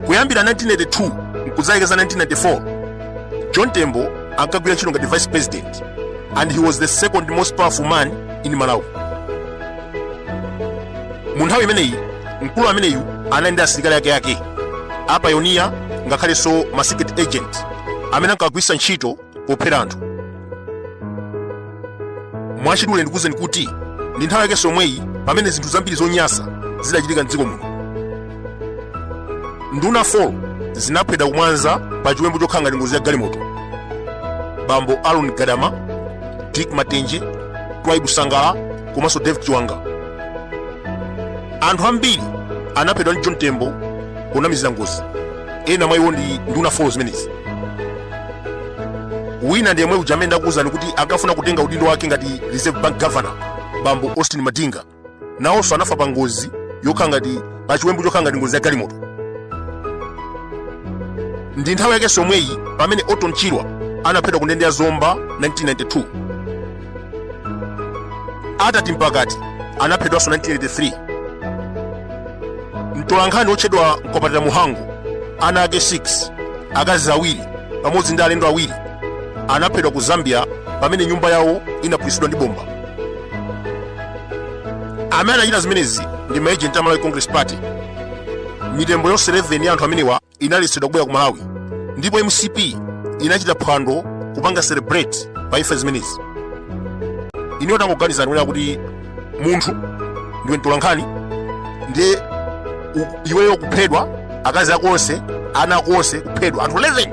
kuyambira 1982 nkudzafika za 1994 john tembo ankagwira ntchito ngati vice president and he was the second most powerful man in malawi mu nthawi imeneyi mkulu ameneyu anali ndi asilikali ake ake apayoniya ngakhalenso ma secret agents amene ankagwiritsa ntchito pophera anthu mwachidule ndikuwuzeni kuti ndi nthawi yakenso yomweyi pamene zinthu zambiri zonyasa zidachitika mdziko muno nduna 4 zinaphedwa kumwanza pa chiwembu chokhala ngati ngozi ya galimoto bambo aaron gadama dick matenje twaibu sangala komanso david chiwanga anthu ambiri anaphedwa ndi john tembo ponamizira ngozi ena mwa iwo ndi nduna 4 zimenezi wina ndi yemwe uja amene ndakuwuzani kuti ankafuna kutenga udindo wake ngati reserve bank governor bambo austin madinga nawonso anafa pa ngozi yokhala ngati pa chiwembu chokhala ngati ngozi ya galimoto ndi nthawi yakenso yomweyi pamene orton chirwa anaphedwa ku ndende ya zomba 1992 attati mpakati anaphedwanso 1983 mtolankhani wotchedwa mkwapatira mhango ana ake 6 akazi awiri pamodzi ndi alendo awiri anaphedwa ku zambia pamene nyumba yawo inaphulitsidwa ndi bomba amene anachita zimenezi ndi maejenti a malawi congress party mitembo yonse 11 ya anthu amenewa inaletsedwa kubwera ku malawi ndipo mcp inachita phwando kupanga celebrate pa imfa zimenezi inuyo tangoganizani kunena kuti munthu ndiwe mtolankhani ndiye u- iweyo kuphedwa akazi ako onse ana ako onse kuphedwa anthu 11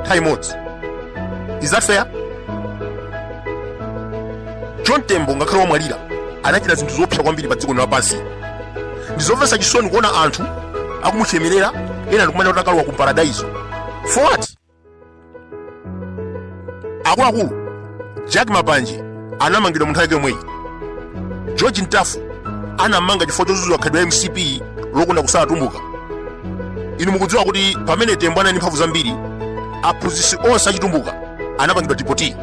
nthawi imodzi is that fair john tembo ngakhale wamwalira anachita zinthu zoopsa kwambiri pa dziko lino lapansi ndizomvetsa chisoni kuona anthu akumuchemerera ena ndikumanena kuti akalowa ku paradaiso for what akuluakulu jack mapanje anamangidwa mu nthawi yake yomweyi george mtafu anammanga chifukwa chodzudzula khalidwe la mcp lokonda kusala atumbuka inu mukudziwa kuti pamene tembo anali ndi mphamvu zambiri aphunzitsi onse achitumbuka anapangidwa dipoti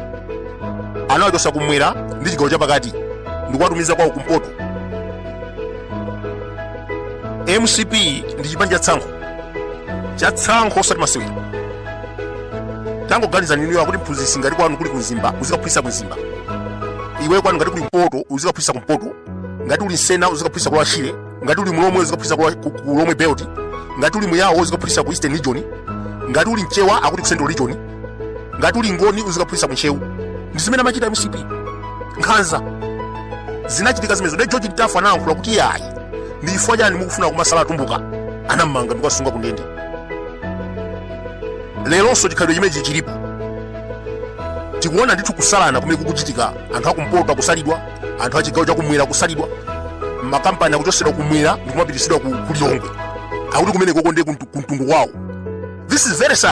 anawachotsa kumwera ndi chigawo chapakati ndikuwatumiza kwawo kumpoto mcp ndi chipani cha tsankho cha tsankho osati masewera tangoganizani inuyo akuti mphunzitsi ngati kwanu kuli kumzimba uzikaphunzitsa kumzimba iwe kwanu ngati kuli kumpoto uzikaphunzitsa kumpoto ngati uli msena uzikaphunzitsa ku lower shire ngati uli mulomwe uzikaphunzitsa kwa ku- ku lomwe belt ngati uli muyawo uzikaphunzitsa ku eastern region ngati uli mchewa akuti ku central region ngati uli ngoni uzikaphunzitsa kuntcheu ndi zimene amachita mcp nkhanza zinachitika zimenezo ndi george mtafu anayankhula kuti yayi ndi chifukwa chani mukufuna kumasala atumbuka anammanga ndikuwasunga kundende leronso chikhalidwe chimenechi chilipo tikuona ndithu kusalana kumene kukuchitika anthu akumpoto akusalidwa anthu achigawo chakumwera akusalidwa makampani akuchosedwa kumwera ndikumapitisidwa ku ku lilongwe akuti kumene koko ndiye kuntu- kuntundu kwawo this is very sad